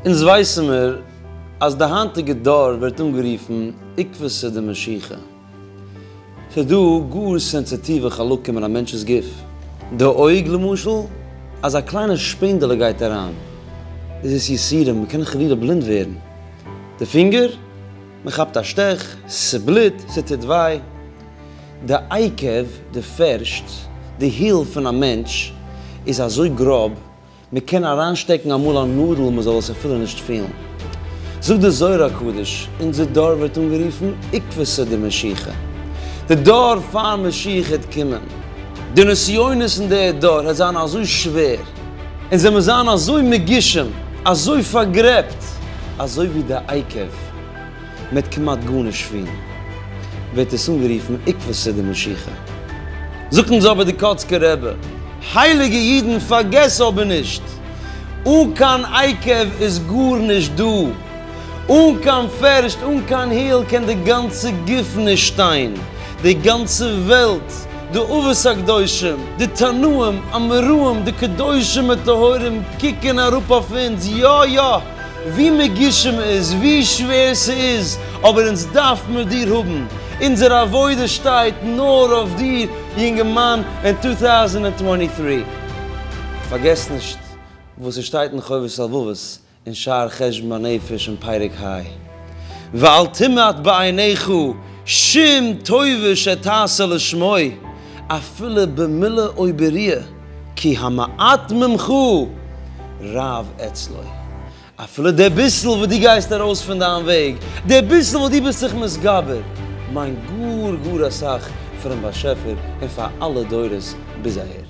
אונז ווייסן מיר אז די היינטיגע דור ווערט אנגערופן עקבות די משיכה. ס'איז דא גאר סענסיטיווע חלקים אין א מענטש'ס גוף. די אויג למשל, אז א קליינע שפענדעלע גייט אריין איז עס יסורים, מ'קען חלילה בלינד ווערן. די פינגער. מען כאפט א שטעך, ס'בליט, ס'טוט וויי, די עיקב, די פערשט, די היל פון א מענטש איז אזוי גראב, מען קען אריינשטעקן אמאל א נאדל מען זאל עס אפילו נישט פילן. זאגט די זוהר הקדוש, אונזער דור ווערט אנגערופן עיקבתא דמשיחא, די דור פאר משיח העט קומען, די נסיונות אין די דור העט זיין אזוי שווער, און זיי מוז זיין אזוי מגושם, אזוי פארגרעבט, אזוי ווי די עיקב, מ'העט כמעט גארנישט פון, ווערט עס אנגערופן עיקבא סעודה משיחא. זאגט אונז אבער די קאצקער רבי, הייליגע אידן פארגעסט אבער נישט, אן קיין עיקב איז גארנישט דא. אן קיין פערשט אן קיין היל קען די גאנצע גוף נישט שטיין, די גאנצע וועלט, די אבות הקדושים, די תנאים, אמוראים, די קדושים וטהורים קוקן אראפ אויף אונז, יא יא, ווי מגושם מ'איז, ווי שווער ס'איז, אבער אונז דארף מיר דיר האבן, אונזער עבודה שטייט נאר אויף דיר יונגערמאן אין טו טאוזענד ענד טווענטי טרי. פארגעס נישט וואס ס'שטייט אין חובת הלבבות, אין שער חשבון הנפש אין פרק ה, ואל תמעט בעיניך שום טובה שתעשה לשמו, אפילו במילה או ביריעה, כי המעט ממך רב אצלו. אפילו די ביסל וואס דו גייסט ארויס פון דיין וועג, די ביסל וואס דו ביסט זיך מתגבר, מיינט גאר גאר אסאך פאר'ן באשעפער און פאר אלע דורות ביז אהער.